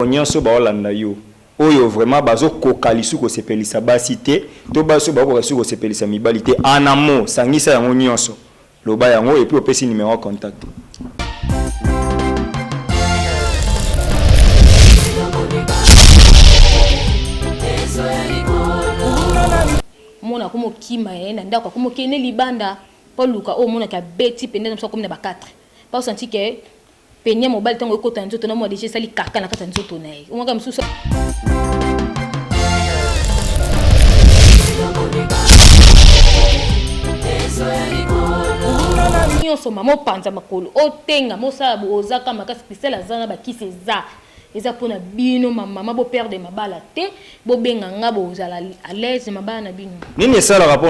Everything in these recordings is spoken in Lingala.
Bango nionso bao landa yo oyo vraiment bazo koka lisu ko sepelisa basi te to basi oyo bao koka lisusu ko sepelisa mibali te en un mot sangisa yango nionso loba yango epuis opesi numero ya contact. mwana akomi okima ye na ndako akomi okende libanda mpo aluka oyo omonaki abeti mpenza na biso akomi na ba 4 mpo asanti ke Peigne ya mobali ntango ekota na nzoto na mwa deja esali kaka na kati ya nzoto na ye omwaka mosusu nyonso mama opanza makolo otenga mosala boozaka makasi kristel aza na bakisi eza Eza pona bino ma maman bo perdre mabala te bo benga nga bo zala à l'aise mabala na bino. Nini esalaka po.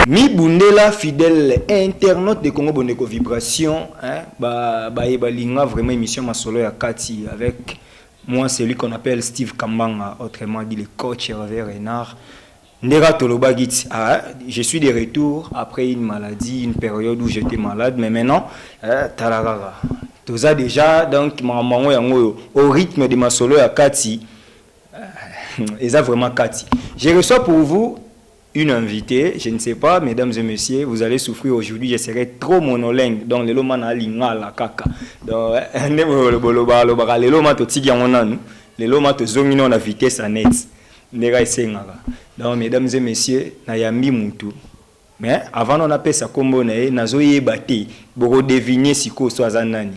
mibundela fidèle internaute de Congo Bondeko Vibration hein, ba baye balinga vraiment émission masolo ya kati avec moi celui qu'on appelle Steve Kambanga autrement dit le coach Hervé Renard Ndera Tolobagit, ah, je suis de retour après une maladie, une période où j'étais malade, mais maintenant, euh, talarara. Toza déjà, donc, maman yango au rythme de ma solo ya Kati, Eza vraiment kati. Je reçois pour vous une invitee, je ne sais pas mesdames et messieurs vous allez souffrir aujourd'hui je serai trop monolingue donc lelo ma na lingala kaka donc nde boloba alobaka lelo ma totiki yango nanu lelo ma tozongi nao na vitesse ya net nde ka esengaka donc mesdames et messieurs nayambi mutu mais avant nao napesa kombo na ye nazoyeba te boko deviner sikoyo so aza nani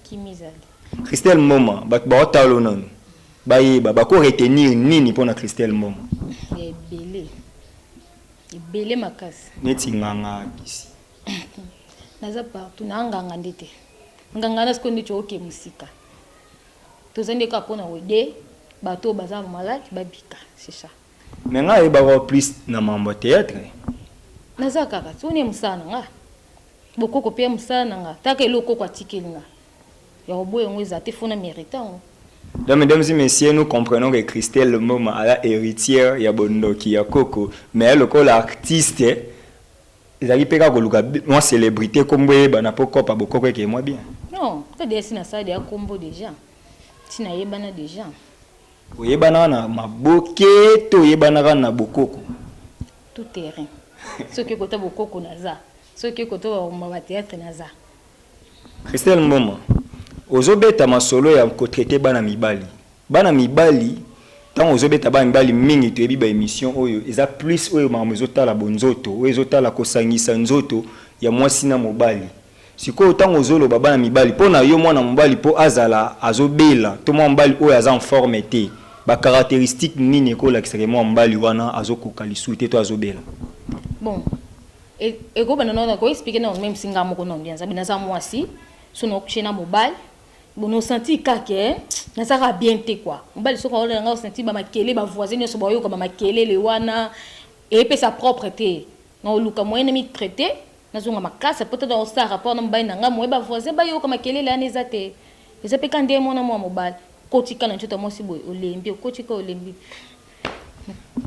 Christelle Mboma bato baotalo nanu bayeba bako retenir nini mpo na Christelle Mboma ebele ebele makasi neti nganga kisi naza partout na nganga nde te nganga na sikoyo ndeti oke mosika toza nde kaka mpo na kode bato oyo baza malade babika c'est ça Mais nga ayeba ko plus na mambo theatre. Naza kaka tuna ya musala na nga. Bokoko pe ya musala na nga. Taka elo koko atikeli nga. Ya oboye ngo eza te fona merita ngo. Donc mesdames et messieurs, nous comprenons que Christelle Mboma à la héritière ya bondoki ya koko, mais lokola artiste ezali pe kaka koluka mwa celebrite kombo eyebana po kopa bokoko ekeye mwa bien. Non, nga deja si nasala deja kombo deja. Si nayebana deja. Oyebanaka na maboke to oyebanaka na bokoko? Tout terrain. Soki oye kota bokoko naza, soki oye kota ba ba theatre naza. Christelle Mboma, ozo beta masolo ya ko traiter bana mibali. Bana mibali tango ozo beta bana mibali mingi toyebi ba emissions oyo eza plus oyo makambo ezo tala bonzoto, oyo ezo tala ko sangisa nzoto ya mwasi na mobali. Sikoyo tango ozo loba bana mibali po na yo mwana mobali po azala azo bela to mwana mobali oyo aza en forme te ba caracteristiques nini eko lakisa ke mwana mobali wana azo koka lisusu te to azo bela? Bon eko banda na ko expliquer na meme si nga moko na bien zabi naza mwasi soki na coucher na mobali bon no sentir ka ke naza ka bien te quoi mobali soki aolela nga o sentir ba makele ba voisins nionso ba oyoka ba makelele wana epesa propre te Nao luka moyen na mi traiter na zonga makasa po ta nao sala rapport na mobali na nga moyen ba voisins ba yoka makelele wana eza te eza pe ka nde muana mua mobali okoti ka na nzoto ya mwasi boye olembi okoti ka olembi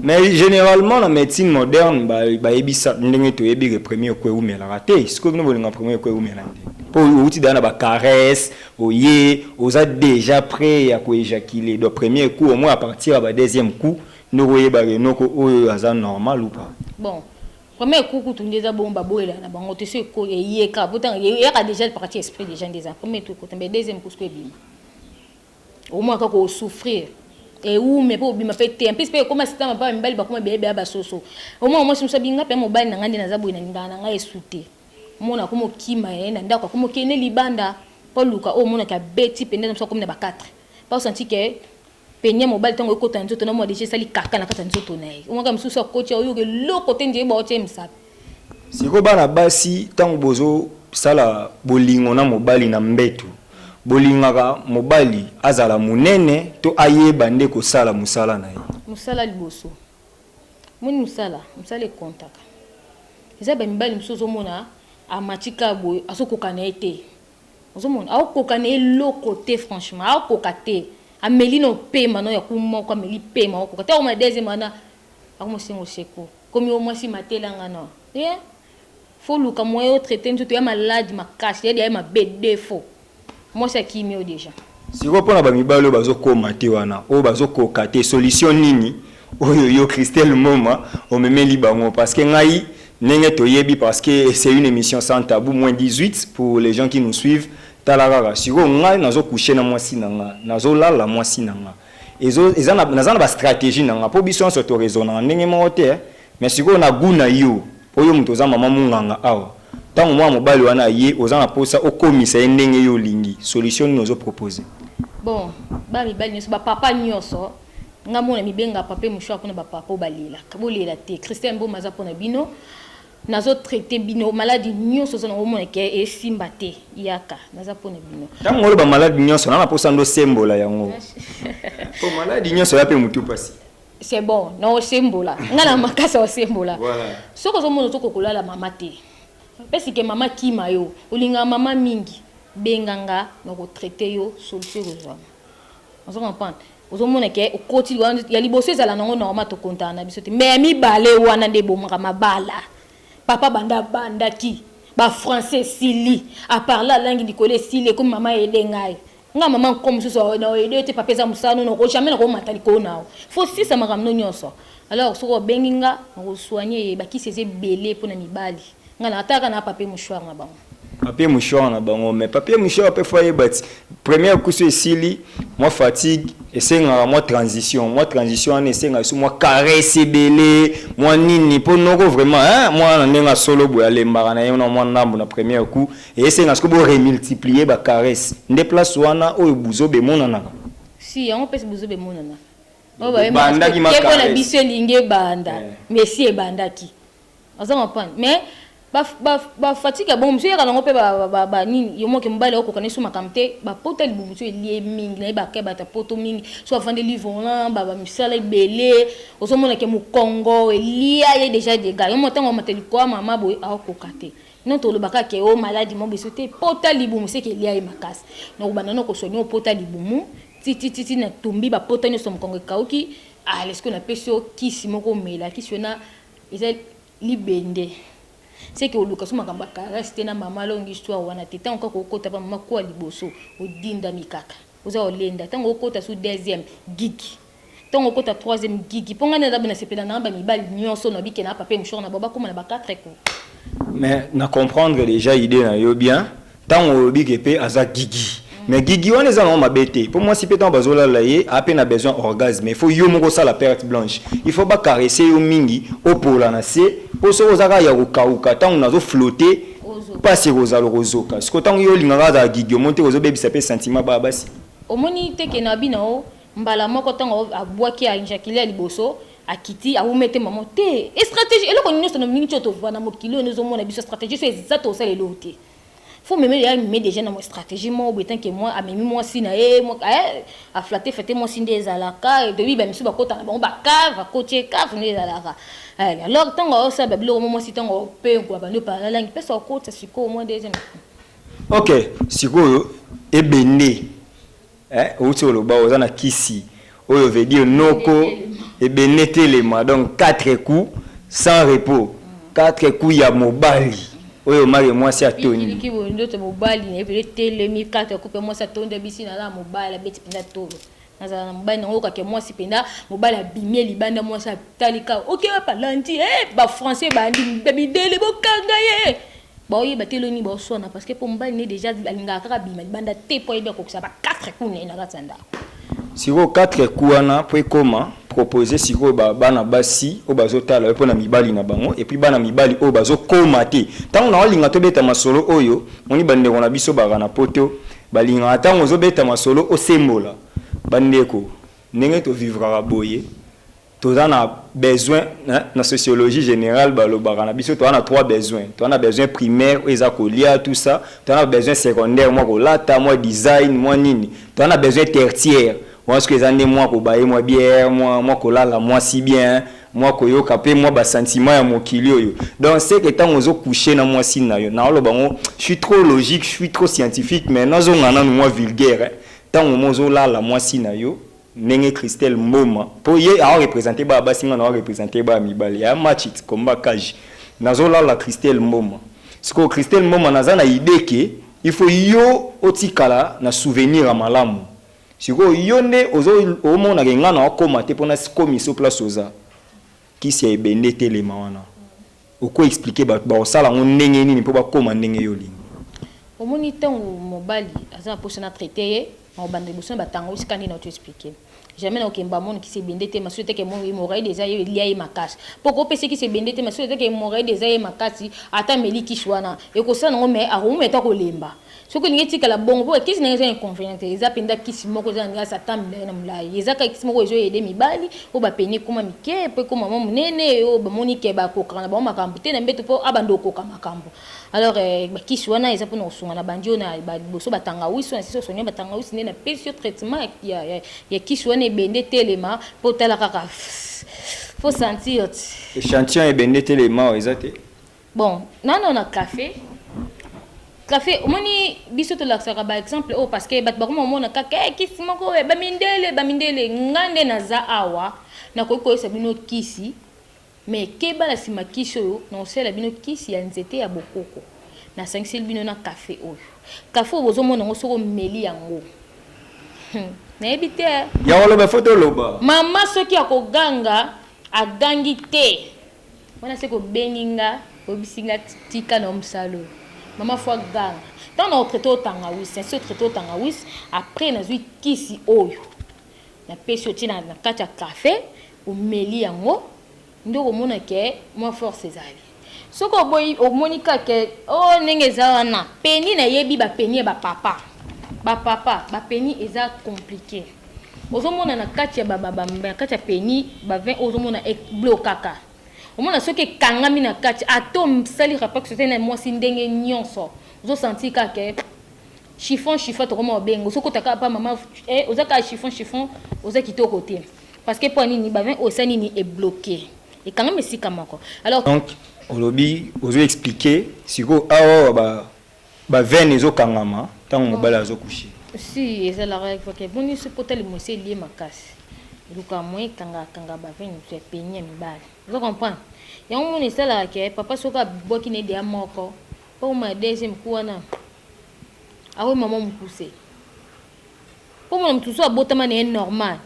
Mais generalement na medecine moderne ba ba yebisa ndenge to yebi ke premier eko ewumela ka te sikoyo bino bolinga premier eko ewumela nde po owuti deja na ba caresse oye oza deja près ya ko ejaculer donc premier coup au moins à partir ya ba deuxième coup Noko yeba ke noko oyo aza normal ou pas. Bon vraiment eko kutu nde eza bongo ba boyela na bango te soki eko eyeka po tanga eyaka dejà le parti esprit dejà nde eza premier tour ekota mais deuxième cousco ebima okomona kaka ko souffrir ewume pe obima pe te en plus pe ekoma sika mapa mibali bakoma bebe ya basoso omona mwasi mosusu abinga pe mobali na ngai nde naza boye na lingaka na ngai esute omona akoma okima ye na ndako akoma okende libanda po luka oyo omonaka abeti mpenza mosusu akomi na ba 4 pa osanti ke Peigne ya mobali tango ekota na nzoto na mua dejà esali kaka na kati ya nzoto na ye. Omonaka misusu akoti awa oyoka eloko te ndire baotia ye mosapi. Sikoyo bana basi tango bozo sala bolingo na mobali na mbetu bolingaka mobali azala munene to ayeba nde kosala musala na ye? Musala liboso. Omoni musala? Musala e comptaka. Eza ba mibali misusu ozo mona amati kaka boye azo koka na ye te. Ozomona akoka na eloko te franchement akoka te ameli na opema na ya ku moko ameli pema okoka te akoma na deuxième wana akoma osenga oseko komi o mwasi matela nga na ye faut luka moyen o traiter nzoto ya malade makasi ya ya mabe defaut mwasi akimi yo dejà. Sikoyo pona ba mibali oyo bazo koma te wana oyo bazo koka te solution nini Oyo yo Christelle Moma omemeli bango parce que ngai ndenge toyebi parce que c'est une emission sans tabou moins 18 pour les gens qui nous suivent tala kaka sikoyo ngai nazo coucher na mwasi na nga nazo lala mwasi na nga ezo eza na naza na ba strategie na nga po biso nionso to raisonnaka ndenge moko te mais sikoyo na gout na yo po yo moto oza mama munganga awa tango mwana mobali wana aye oza na posa okomisa ye ndenge yo olingi solution nini ozo proposer? Bon ba mibali nionso ba papa nionso Nga moko na mibenga pape mouchoir pona ba papa oyo ba lelaka. Bo lela te. Christelle mboma aza pona bino. Nazo traite bino maladi nionso oza nango omona ke esimba te yaka naza pona bino. Tango oloba maladi nionso na na posa ndo sembola yango. Po maladi nionso ya pe mutu pasi. C'est bon. Na osembola. Nga na makasi ya osembola. Voilà. Soki ozo mona ozo ko kolala mama te. Pesi ke mama akima yo. Olingaka mama mingi. Benga nga na ko traite yo solution eko zuama. Ozo comprendre? Ozo mona ke okoti wana ya liboso ezala nango normal to kontana na biso te. Mais ya mibale wana nde ebomaka mabala. Papa banda abandaki ba français esili a parler alangi likolo esili ekomi mama aide ngai. Nga mama nko mosusu na aide yo te papa eza musala no noko jamais nako mata likolo na yo. Faut sisa makambo no nionso. Alors soki obengi nga nako soigner ye bakisi eza ebele pona mibali. Nga na ataka na papier mouchoir na bango. Papier mouchoir na bango mais papier mouchoir pe foyer bati première kusu esili moi fatigue esengaka mwa transition mwa transition wana esengaka biso mwa caresse ebele mwa nini mpo noko vraiment hein, mwana na ndenge asolo boye alembaka na ye na mwa ndambo na première coup esenga siko boremultiplier bacaresse nde place wana oyo buzoba emonanaka si yango mpesi buzoba emonanaka bandaki macaresse biso elingi ebanda eh. mais si ebandaki Oza comprendre mais ba ba ba fatigue bon monsieur yaka nango pe ba ba ba nini yo moke mobali au kokana suma kamte ba pota libumu tu elie mingi na ba ke bata poto mingi so avande li volant ba ba misala ebele ozo mona ke mukongo elia ye deja de ga yo motango mata likoa mama boy au kokate non to lobaka ke o maladi mo beso te pota libumu se ke elia ye makasi na kobanda na kosoni o pota libumu ti ti ti ti na tumbi ba pota nyo so mukongo ekauki ah lesko na pesio kisi moko mela kisi yo na Eza libende ce que oluka so makambo ya caresse te na mama longi histoire wana te tango kaka okota pa mama kuwa liboso odindami kaka oza olenda tango okota su deuxième gigi tango okota troisième gigi po ngai nde naza na sepela nanga ba mibali nioso na bikela na papa mouchoir na bango bakoma na ba quatre ko mais na comprendre dejà idee na yo bien Tango olobi ke pe aza gigi mais gigi wana eza nango mabe te po mwasi pe tango bazo lala ye a pe na besoin orgasme il faut yo moko osala perte blanche il faut ba caresser yo mingi opola na se po soki oza kaka ya ko kauka tango nazo flotter pasi ekozala okozoka sikoyo tango yo olinga kaka azala gigi omoni te ke ozo bebisa pe sentiment ba basi? Omoni te ke na bina o mbala moko tango abuaki a injaculer ya liboso akiti awumeli te mbala moko te strategie eloko nioso na minute oyo tovanda mokili oyo nde ozo mona biso strategie so eza toko sala eloko te. Faut meme ya meme déjà na mo stratégie mo bo etant que moi amemi mwasi na ye mo eh a flatter flatter mwasi nde ezalaka de bi ba misu ba kota na bango ba cave kotie cave nde ezalaka eh alors tango o sa ba biloko mo mwasi tango pe ko ba ndio pa la langue pesa okota siko moi deuxième Ok sikoyo ebende Eh owuti oloba oza na kisi oyo veut dire noko ebene telema donc 4 coups sans repos 4 coups ya mobali oyo make mwasi atondi. Kiki boye nzoto mobali naye penza etelemi 4 coups pe mwasi atondi abisi naza na mobali abeti penza tolo nazala na mobali nango oyoka ke mwasi penza mobali abimi ye libanda mwasi atali kaka oke wapi alandi eh ba français ebandi midele bokanga ye. Bao yeba te lelo nini bao swana parce que po mobali ne dejà alingaka kaka abima libanda te po ayebi akokisa ba 4 coups na ye na kati ya ndako. Sikoyo 4 coups wana po ekoma proposer sikoyo ba bana basi oyo bazo tala yo po na mibali na bango et puis bana mibali oyo bazo koma te tango nao linga to beta masolo oyo moni ba ndeko na biso baka na poto ba lingaka tango ozo beta masolo osembola ba ndeko ndenge to vivraka boye Toza na besoin na sociologie generale balobaka na biso toza na trois besoin toza na besoin primaire oyo eza kolia tout ça toza na besoin secondaire mwa kolata mwa design mwa nini toza na besoin tertiaire wana soki eza nde mwa kobaye mwa bière mwa mwa kolala mwasi bien mwa koyoka mpe mwa basentiment ya mokili oyo donc seke ntango ozo couche na mwasi na yo naoloba yango je suis trop logique je suis trop scientifique mais nazonga nanu mwa vulgaire ntango mwa ozolala mwasi na yo Ndenge Christelle mboma po ye ao representer baya basi nga nao representer baya mibali aya match it combat cage nazo lala Christelle mboma sikoyo Christelle mboma naza na idee que il faut yo otikala na souvenir ya malamu sikoyo yo nde ozo omona que nga nao koma te po na komi so place oza kisi ya ebende etelema wana. Oko expliquer batu bako sala ngo ndenge nini po ba koma ndenge yo olingi. Omoni tango mobali aza na posa na traite ye nako banda liboso na ba tanga esika nini auto expliquer jamais nako kemba mon kisi ebende te masuta ke mon hemorroide eza ye elia ye makasi po ko pesa ye kisi ebende te masuta ke hemorroide eza ye makasi ata ameli kisi wana eko sala nango mais ako mema ata ko lemba Soki olingi etikala bongo po kisi nanga eza inconvenient te eza penza kisi moko eza nanga satan milayi na mulayi eza kaka kisi moko ezo aide mibali oyo ba peni ekoma mike po ekoma mwa munene oyo ba moni ke ba kokaka na bango makambu te na mbetu po abanda okoka makambu alors eh ba kisi wana eza pona kosunga na bandi oyo na ba liboso ba tangawisi wana sisi osoni ba tangawisi nde na pesi yo traitement ya ya ya kisi wana ebende etelema po otala kaka po sentir ti. Echantillon ya ebende etelema oyo eza te? Bon nano na cafe cafe omoni biso tolakisaka ba exemple oyo parce que bato bakoma komona kaka hey, eh, kisi moko oyo eh, bamindele bamindele ngai nde naza awa nakoki koyesa bino kisi me keba na nsima kisi oyo nakosalela bino kisi ya nzete ya bokoko nasangiseli bino na kafe oyo kafe oyo bozomona yango soki omeli yango hmm, nayebi te ya koloba fo toloba mama soki akoganga agangi te Wana seke obengi nga oyebisi nga tika na omsalo mama fwa ganga tango na otraite o tangawisi na si otraite o tangawisi apres nazwi kisi oyo na pesi otie na kati ya cafe omeli yango nde okomona ke mwa force ezali soki oboyi omoni ka ke o oh, ndenge eza wana peni na yebi ba peni ya ba papa ba papa ba peni eza complique Ozo mona na kati ya ba ba na kati ya peni ba vin ozo mona e blokaka. Omona soki ekangami na kati ato sali rapport sote na mwasi ndenge nyonso. Ozo sentir ka ke chiffon chiffon toko mwa obenga ozo kota ka pa mama eh oza ka chiffon chiffon oza kitoko te. Parce que po nini ba vin oyo esali nini e bloquer. Ekangami esika moko. Alors. Donc olobi ozo expliquer siko awa ba Ba veine ezo kangama tango mobali azo coucher. Si eza la règle faut que ebongi soki po tali mwasi elie makasi luka moyen kanga kanga ba veine mosusu ya peni ya mibali ozo comprendre yango mona esalaka ke papa soki abwaki na ye deya moko po akoma na deuxième coup wana akomi maman mukuse. Kombo na mutu soki abotama naye normal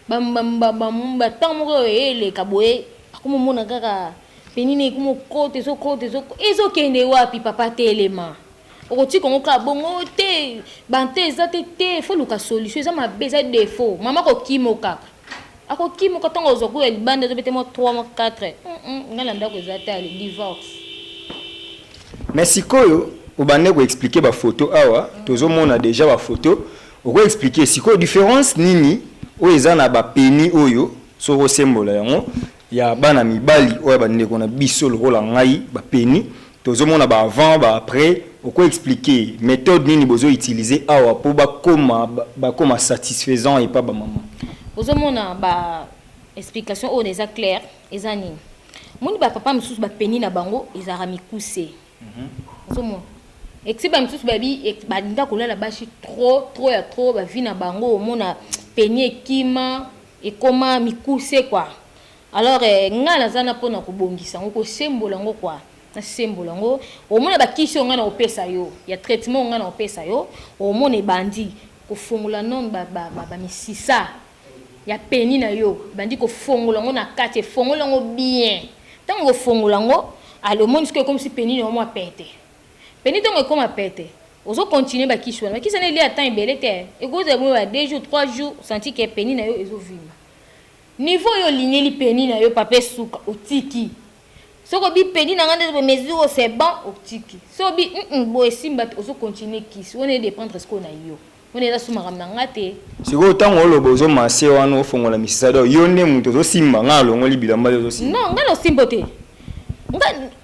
ba ba ba ba temps moko eleka boye akomi omona kaka peni naye ekomi okota ezokota ezokota ezokende wapi papa telema okotika yango kaka bongo te ba temps eza te te fo oluka solution eza mabe eza defaut mama kokima okaka Ako kimuka tango akozwa gout ya libanda ezo bete mwa trois mwa quatre hum nga na ndaku eza te allez divorce. Mais sikoyo obande ko expliquer ba photos awa tozo mona dejà ba photos oko expliquer sikoyo difference nini oyo eza na ba peni oyo soki osembola yango ya bana mibali oyo ya ba ndeko na biso lokola ngai ba peni Tozo mona ba avant ba après oko explique methode nini bozo utilise awa po ba koma ba koma satisfaisant epa ba maman. Ozo mona ba explication oyo na eza claire eza nini omoni ba papa misusu ba peni na bango ezalaka mikuse ozo mona ecsi ba misusu ba bi ba linga ko lala bashi trop trop ya trop ba vie na bango omona peni ekima ekoma mikuse quoi. Alors eh nga naza na pona ko bongisa ngo ko sembola ngo kua na sembola ngo omona ba kisi oyo nga nako pesa yo ya traitement oyo nga nako pesa yo omona ebandi ko fongola non ba ba misisa ya peni na yo ebandi ko fongola ngo na kati efongoli yango bien tango eko fongola ngo ale omoni sikoyo ekomisi peni na yo mua pete peni tango ekoma pete ozo continuer ba kisi wana ba kisi wana elia temps ebele te ekozala bongo ba 2 jours 3 jours senti ke peni na yo ezo vimba Niveau yo olingeli peni na yo papa esuka otiki soki obi peni na nga nde boye mesure oyo c'est bon otiki soki obi hum boye esimba te ozo continuer kisi wana e dependre sikoyo na yo wana eza sous makambo na nga te. Sikoyo tango oloba ozo masse wana ofongola misisa donc yo nde mutu ozo simba nga nalongoli bilamba yo ozo simba? Non nga na osimbo te nga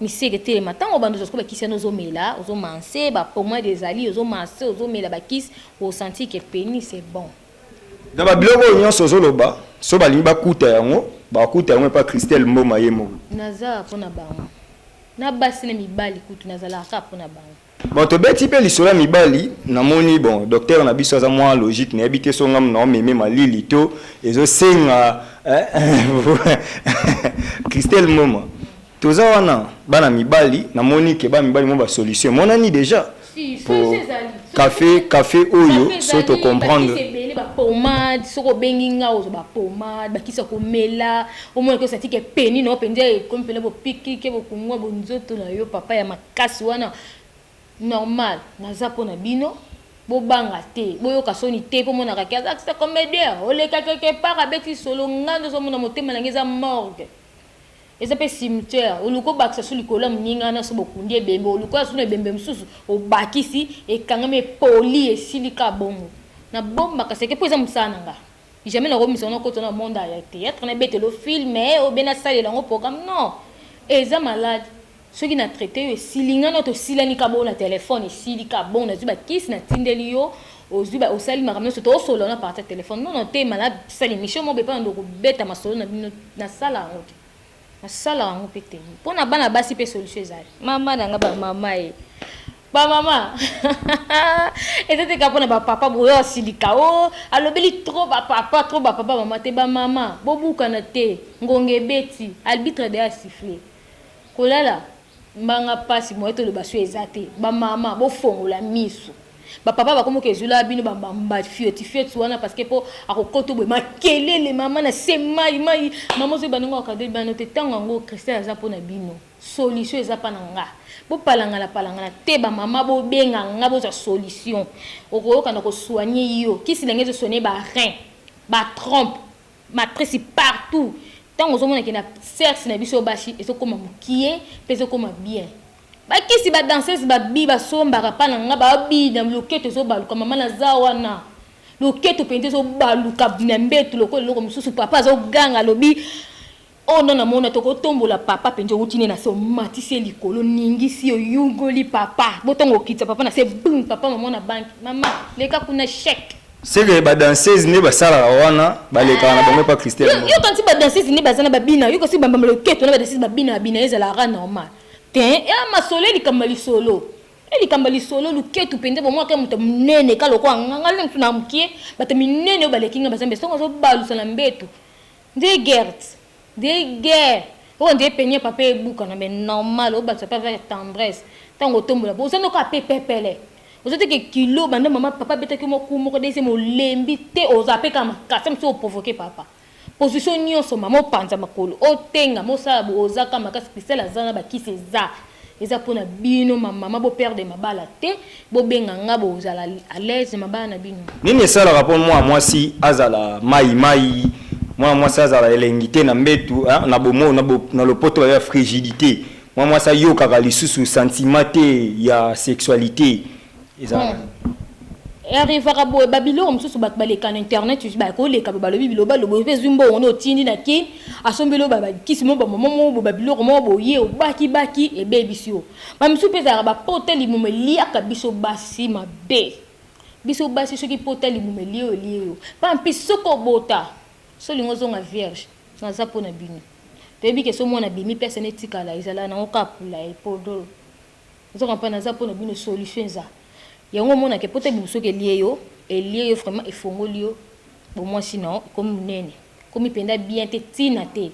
Misege telema tango obanda ozo koba kisi wana ozo mela ozo manse ba pomade ezali ozo manse ozo mela ba kisi o sentir que penis c'est bon. Na ba biloko oyo nionso ozo loba soki ba lingi ba kuta yango bako kuta yango epa Christelle mboma ye moko. Naza kaka pona bango na basi na mibali kutu nazalaka kaka pona bango. Bon tobeti mpe lisolo ya mibali namoni bon docteur na biso aza mwa logique nayebi te so nga muna omeme malili to ezosenga Christelle Moma toza wana bana mibali namoni ke bana mibali mwa basolution emonani deja po cafe cafe oyo so tocomprendre pomade soki obengi nga ozwa bapomade bakisa komela omona kosa tike peni na yo mpenza ekomi mpena bopikike bokungwa bonzoto na yo papa ya Kasi wana normal naza po na bino bo banga te bo yoka soni te po monaka ke aza kisa comedien oleka quelque part abeti lisolo nga nde ozo mona motema na nga eza morgue eza pe cimetière oluki obakisa su likolo ya moninga na so bokundi ebembe oluki oya su na ebembe mosusu obakisi ekangami epoli esili ka bongo na bombaka seke po eza mosala na nga Jamais na komisa na kota na monde ya theatre na betelo film eh obe na salela ngo programme non eza malade soki na traite yo esili nga no to silani ka bo na telephone esili ka bon na zwi ba kisi na tindeli yo ozwi ba osali makambo nionso to solo na partir telephone non non te malade sali mission mo be pa ndo ko beta masolo na bino na sala ngo te Asala yango mpe te. Mpo na bana basi mpe solution ezali. Mama na nga ba mama e. Ba mama. Eza te kaka mpo na ba papa boyo asilika. Oh, alobeli trop ba papa, trop ba papa mama te. Ba mama, bobukana te. Ngonga ebeti. Albitre deja a siffle. Kolala. Mba nga pasi moyen to loba su eza te ba mama bo fongola misu ba papa ba komi kezula bino ba mba fioti fioti wana parce que po ako koto boye makelele mama na se mayi mayi mama ozo yeba ndenge oko cadre bana no te tango yango Christelle aza pona bino solution eza pa na nga bo palangana palangana te ba mama bo benga nga bo zwa solution oko yoka na ko soigner yo kisi na nga ezo sonner ba rein ba trompe Matrisi partout tango ozo mona ke na serce na biso basi ezo koma mukie pe ezo koma bien ba kisi ba danseuse ba bi ba sombaka pa na nga ba bi na loketo ezo baluka mama na za wana loketo penza ezo baluka na mbetu lokola eloko mususu papa azo ganga alobi Oyo nde na mona toko tombola papa penza owuti nde na se omatisi ye likolo ningisi yo yugoli papa botonga okitisa papa na se bum papa maman na banki maman leka kuna chec. Ce que ba danseuses nde basalaka wana balekaka na bango epa Christelle mboma. Yo okanisi ba danseuses nde baza na ba bina yo kasi ba mbamba loketo na ba danseuses ba bina ba bina ezala ka normal tein eeh masolo e likambo ya lisolo e likambo ya lisolo luketu penza bomona ka moto ya munene ka lokola nga nga nde moto na mukie bato ya minene oyo baleki nga baza mbese soki azo balusa na mbetu Nde gert nde guerre oyo nde peniel papa ebukana mais normal obakisa pe avec tendresse tangu otombola po oza nde kaka pe pepele oza te ke kilo banda mama papa abetaki yo mua coup moko deuxième olembi te oza pe kaka makasi ata mosusu o provoque papa position nionso mama opanza makolo otengama osala boye oza kaka makasi cristal aza na ba kisi eza. Eza pona bino ma maman bo perdre mabala te bo benga nga bo zala à l'aise mabala na bino. Nini esalaka po mwana mwasi azala mayi mayi, mwana mwasi azala elengi te na mbetu hein na bomoyi na bo na lopoto ba bengaka frigidite, mwana mwasi ayokaka lisusu sentiment te ya sexualite. arrivaka boye babiloko mosusu bato baleka na internet osi bakoleka bo balobi biloba lobo mpe ezwi mbongo na otindi na kin asombeli oyo babakisi mo bamama moko bo babiloko moko boye obakibaki ebebisi yo bamisusu mpe ezalaka bapota libumu eliaka biso basi mabe biso basi soki pota libumu elie oyo elie yo mpa mpi soki obota solingo ozonga vierge naza mpo na bino toyebi ke so mwana bimi mpe asana etikala ezala nango kapula epodolo Nzoka mpa naza mpo na bino solution eza yango omona ke pota bibusoki elie yo elie yo vraiment efongoli yo bomwasi na yo ekomi monene ekomi mpenza bien te ntina te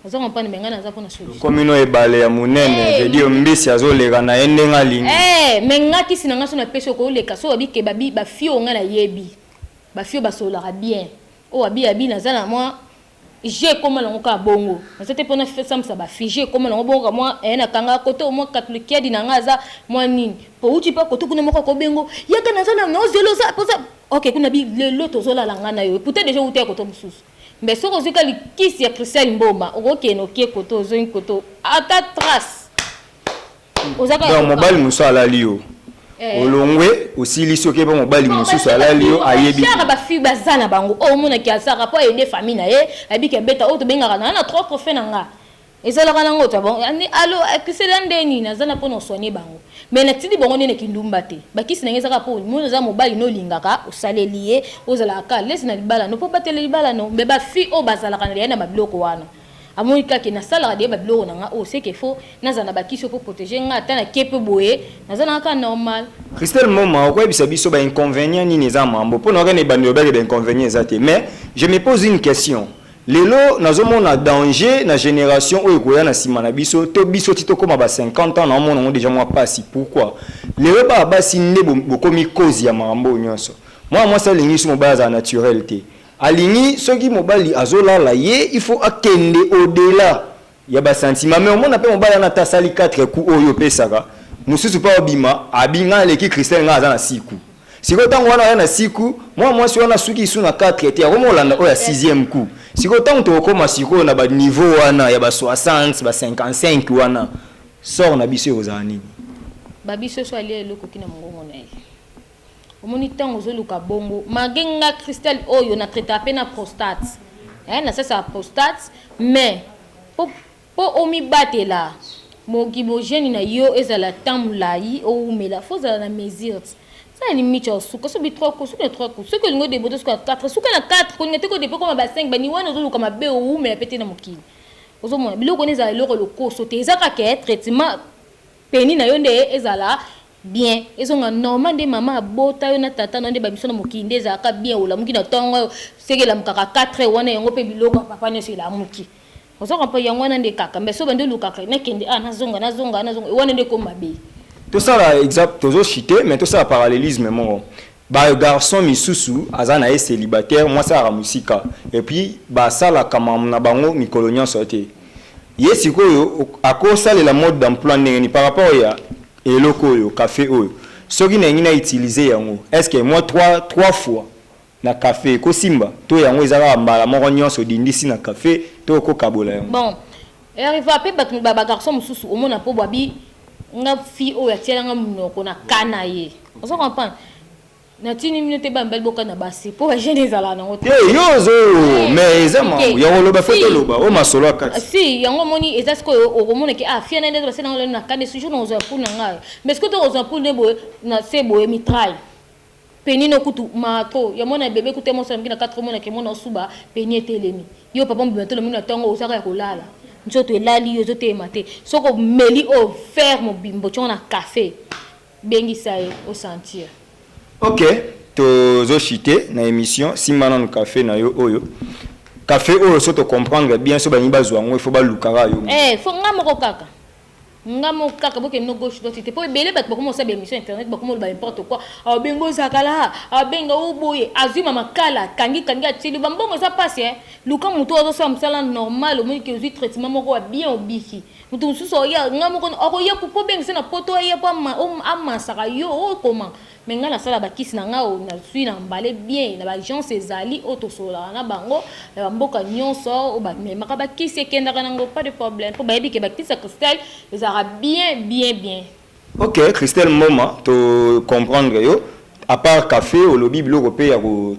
Nzoka mpa na me ngai naza mpo na solution okomi no ebale ya monene eh, veut dire mbisi azoleka na ye ndenge alingi eh, me ngai kisi na ngai so napesi yo koleka so babi ke babi bafio ngai nayebi bafio basololaka bien oyo abi abi naza na mwa Jeux ekoma nango kaka bongo naza te pona sambisa ba filles jeux ekoma nango bongo ka mwa eh na kanga koto mwa katulu kiadi na nga aza mwa nini po wuti pa koto kuna moko ako bengo yaka naza na no zelo za poza ok kuna bi lelo tozo lala nga na yo puta deja wuta ya koto mususu mbe soko ozwi ka likisi ya Christian Mboma okokena okie koto ozongi koto ata trace donc mobali mosusu alali yo eh. olongwe osili soki ebe mobali mosusu alali yo ayebikaka bafille baza na bango oyo oh, omonaki azaka mpo ayede famille na ye ayebiki abeta oyo oh, tobengaka na na trois trophée na nga ezalaka nango ta bango alo akisela nde nini aza na mpo na osoigne bango mai natindi bango nde na kindumba te bakisi na ngai ezaka mpo moni oza mobali nolingaka osaleli ye ozalaka kaka lesi na libala no mpo batela libala no mai bafille oyo bazalaka na liya na babiloko wana Amoni kaka ke nasalaka dejà ba biloko na nga oyo ce que faut nazala na ba kisi oyo po proteger nga ata na ke pe boye naza nanga kaka normal. Christelle Moma okoyebisa biso ba inconvenient nini eza mambo po nayoka na ebandeli olobaki ba inconvenient eza te mais je me pose une question lelo nazomona danger na generation oyo ekoya na sima na biso to biso ti tokoma ba 50 ans naomona yango dejà mua pasi pourquoi lelo bana basi nde bokomi cause ya mambo oyo nionso mwana mwasi alingi su mobali azala naturel te Alingi soki mobali azo lala ye il faut akende au dela ya ba sentiment mais omona pe mobali wana ata asali quatre coups oyo yo opesaka mususu pe abima abi ngai aleki Christelle ngai aza na six coups sikoyo tangu wana aya na six coups mua muasi wana asuki lisusu na quatre te akomi kolanda oyo ya sixieme coups sikoyo tangu tokokoma sikoyo na ba niveau wana ya ba soixante ba cinquante cinq wana sort na biso ekozala nini? Babi soso alia eloko ti na mungongo naye. Omoni tango ozo luka bongo malgre nga Christel oyo na traitaka pe na prostate eh na sasaka prostate mais po po omi batela moki bo jeune na yo ezala temps mulayi owumela faut ozala na mesures sala limites ya suka soki trois coups suka na trois coups soki olingi o deboter suka na quatre suka na quatre kolinga te ko depe okoma ba cinq ba ni wana ozo luka mabe owumela pe te na mokili ozo mona biloko wana ezala eloko ya lokoso te eza kaka ke traitement peni na yo nde ezala bien ezonga normal nde maman abota yo na tata nayo nde ba emission na mokili nde ezalaka bien olamuki na tongo oyo soki elamukaka 4 heures wana yango pe biloko ya papa nionso elamuki ozo comprendre yango wana nde kaka mais soki obandi olukaka nakende awa nazonga nazonga awa nazonga wana nde ekomi mabe. Tosala exemple tozo chute mais tosala parallelisme moko ba garçon misusu aza na ye celibataire mwasi ayaka musika et puis basalaka makambo na bango mikolo nionso te ye sikoyo akosalela mode d'emploi ndenge nini par rapport ya Eloko oyo cafe oyo soki nalingi na utilise yango esque moi trois trois fois na cafe eko simba to yango eza kaka mbala moko nionso odindisi na cafe to oko kabola yango. Bon herva pe batu ba ba garçon mususu omona po bwa bi nga fille oyo atiela nga munoko na cas naye ozo comprendre. Natuni bino te bana mibali bokana basi po ba jeune ezalaka nango te. Te yo ozo eh, mais eza makambo ya koloba faut toloba o oh, masolo ya kati. Si yango omoni eza sikoyo okomona ke ah fia na ndeto basala nango lelo na kane sujour na kozwa poule na ngai mais sikoyo to kozwa poule nde boye na se boye mitraille penino kutu mato ya mwana bebe kutu mwa soki na 4 mona ke mona osuba peni etelemi yo papa mobima to lomi na tongo ozaka ya kolala nzoto elali yo ezoteyema te soko meli o oh, fer mobimbo tongo na café Bengisa ye o sentir. Ok tozo chute na emission simba nanu cafe na yo oyo cafe oyo soki to comprendre bien soki balingi bazua yango il faut baluka kaka yo moko. Eh il faut nga moko kaka? Nga moko kaka bokende no gauche droite te po ebele batu bakoma kosala ba emission ya internet bakoma koloba n'importe quoi ah benga o zakalaa ah benga o boye azui ma makala akangi kangi atie liwa ba mbongo eza pasi eh luka mutu oyo azo sala musala normal omoni ke ozui traitement moko ya bien obiki Moto mosusu akoya, nga moko akoya po obengisa na poto aya po amasaka yo o koma. Mais nga nasala ba kisi na nga oyo nazui na mbale bien na ba agence ezali oyo tosololaka na bango na ba mboka nionso oyo ba memaka ba kisi ekendaka nango pas de problème po bayebi ke ba kisi ya cristal ezalaka bien bien bien. Ok Christelle Mboma to comprendre yo à part café olobi biloko pe ya ko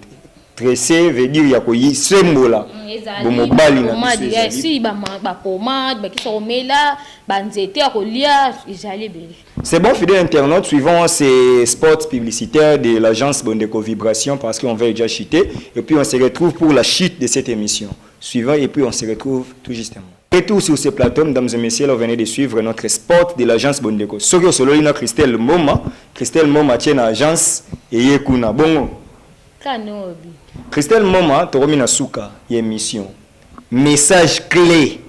tresser veut dire ya ko yisembola mm, bo mobali na biso ya si ba ba pommade ba kisa komela ba nzete ya kolia ezali ebele C'est bon fidèle internaute suivant ces spots publicitaires de l'agence Bondeko Vibration parce qu'on va déjà chuter et puis on se retrouve pour la chute de cette émission suivant et puis on se retrouve tout justement Pe tour sur ce plateau mesdames et messieurs là vous venez de suivre notre sport de l'agence bondeko soki osololi na Christelle mboma Christelle mboma atie na agence eye kuna bongo Kanobi. Christelle mboma tokomi na suka ya emission message cle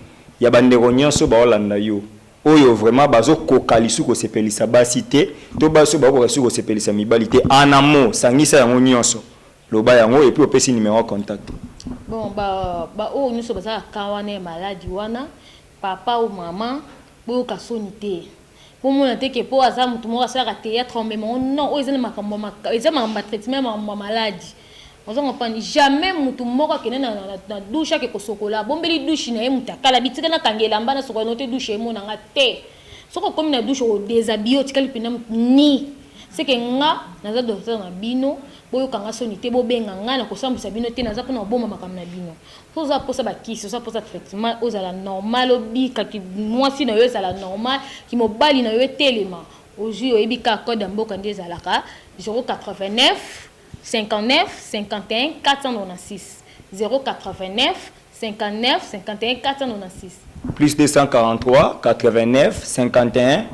ya ba ndeko nionso ba olanda yo oyo vraiment bazo koka lisu ko sepelisa basi te to basi oyo bazo koka lisu ko sepelisa mibali te en un mot sangisa yango nionso Loba yango et puis opesi numero ya contact. Bon ba ba oyo nioso baza na cas wana ya maladi wana papa ou maman boyoka soni te bomona te ke po aza mutu moko asalaka theatre omema ngo non oyo eza na makambo ya maka eza makambo ya traitement ya makambo ya maladi ozo comprendre jamais mutu moko akende na, na, na douche ake kosokola abombeli douche na ye mutu akala bitika na kanga elamba na sokola no te douche emona nga te soki okomi na douche okodeshabille otikali mpenza ni seke nga naza docteur na bino Boyoka nga soni te bobenga nga na kosambwisa bino te naza pona kobomba makambo na bino soki oza posa ba kisi oza posa traitement ozala normal obika ki mwasi na yo ezala normal ki mobali na yo etelema ozui oyebi kaka code ya mboka nde ezalaka 089 59 51 496 089 59 51 496. Plus 243 89 51.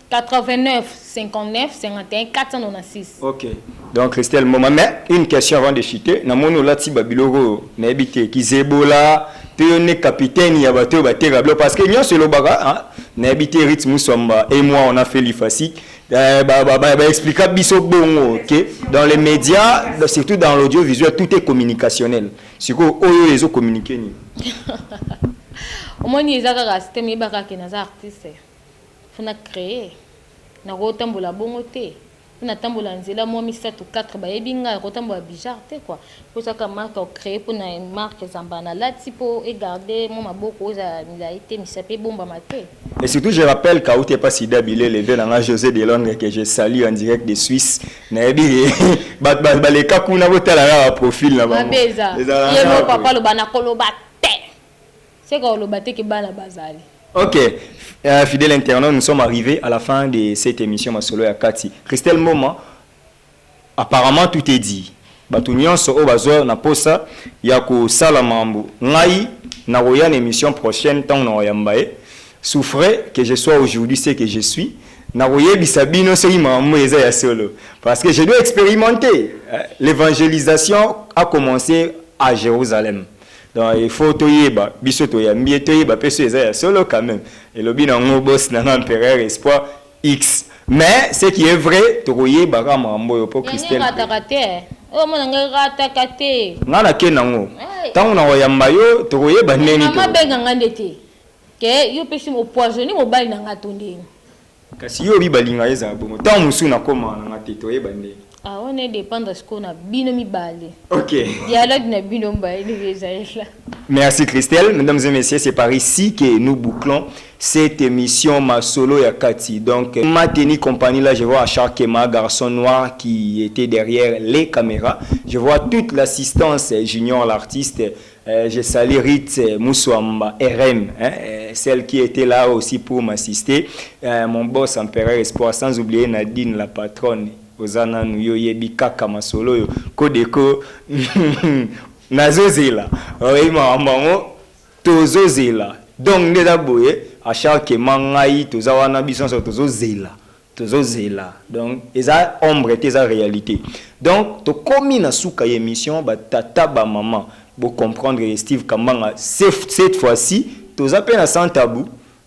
89 59 51 496. Ok. Donc Christelle Moma, mais une question avant de chuter. Na moni olati ba biloko na ebite ki zebola pe yo ne capitaine ya bato ba tega blo parce que nyonso elobaka hein, na ebite Ritz Musamba et moi on a fait l'IFASI. Euh, bah, bah, bah, bah, expliqua biso bongo, ok? Dans les médias, surtout dans l'audiovisuel, tout est communicationnel. Sikoyo oyo ezo communiquer nini? Omoni eza kaka système yeba kaka ke naza artiste faut na creer nako tambola bongo te faut na tambola nzela mua misatu quatre bayebi nga nako tambola bizzard te quoi faut eza kaka marque o creer pona marque zambala na lati po e garder mua maboko ezala milayi te misapi ebombama te. Et surtout je rappelle kawuti epa Sida Bilele vieux na nga Jose de Londres que je salue en direct de Suisse nayebi bato baleka kuna botala kaka baprofile na bango ye moko akoloba nakoloba te seka oloba te ke bana bazali ok uh, fidèle internaute nous sommes arrivés à la fin de cette émission masolo ya kati christelle moma apparemment tout est dit Batu nionso oyo bazua na posa ya ko sala mambu ngai na koya na emission prochaine tango na ko yamba ye sous frais que je sois aujourd'hui ce que je suis na ko yebisa bino soki mambu eza ya solo parce que je dois experimente l'evangelisation a commence a Jerusalem donc il faut to yeba biso to yambi ye to yeba pe soki eza ya solo quand meme elobi na ngo boss na nga empereur espoir X mais ce qui est vrai toko yeba ka makambo oyo po Christelle. Yango rataka te oyo mona ngai rataka te. Nga na ke nango tango nako yamba yo toko yeba ndenge nini toko. Maman benga nga nde te ke yo pesi o poisonne mobali na nga to ndenge. Kasi yo obi balinga ezala bongo tango mosusu na koma na nga te to yeba ndenge. Ah wana e dependre sikoyo na bino mibale. Ok. Dialogue na bino mibale ndenge ezalela. Merci Christelle. Mesdames et messieurs, c'est par ici que nous bouclons cette émission Masolo ya Kati. Donc, ma tenue compagnie là, je vois à chaque ma garçon noir qui était derrière les caméras. Je vois toute l'assistance Junior l'artiste. Eh, je salue Ritz eh, Muswamba RM, eh, eh, celle qui était là aussi pour m'assister, eh, mon boss Empereur Espoir, sans oublier Nadine la patronne, oza nanu yo yebi kaka masolo yo kodeko nazozela oyebi makambo yango tozozela donc nde eza boye à chaque ma ngai toza wana biso nyonso tozozela Tozo zela donc eza ombre te eza realite donc tokomi na suka ya emission ba tata ba maman bo comprendre ye Steve kambanga cette fois ci toza pe na sans tabou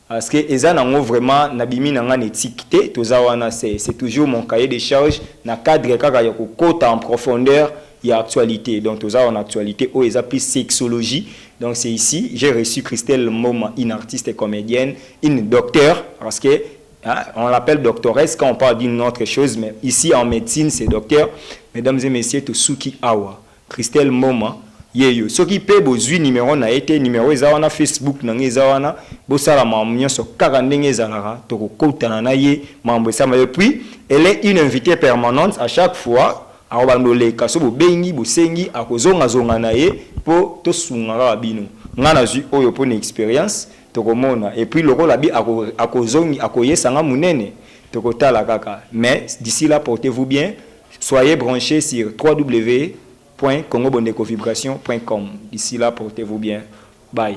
parce que eza na ngo vraiment na bimi na nga na ethique te toza wana c'est c'est toujours mon cahier de charge na cadre kaka ya ko kota en profondeur ya actualite donc toza awa na actualite oyo eza plus sexologie donc c'est ici j'ai reçu Christelle mboma une artiste comedienne une docteur parce que Hein, on l'appelle doctoresse quand on parle d'une autre chose, mais ici en médecine, c'est docteur. Mesdames et messieurs, to suki awa. Christelle Moma, yeyo. Soki pe bozui numéro na ete, numéro eza wana Facebook na ngai eza wana, bosala mamu nyonso kaka ndenge ezalaka, tokokotana na ye, mambo esama. Et puis, elle est une invitée permanente à chaque fois, akobanda oleka, so bobengi, bosengi, akozonga zonga na ye po tosunga kaka bino. Ngai nazui oyo po na experience, Tokomona et puis lokola bi ako akozongi akoyesa nga munene tokotala kaka mais d'ici là portez vous bien soyez branche sur www.congobondekovibration.com d'ici là portez vous bien bye.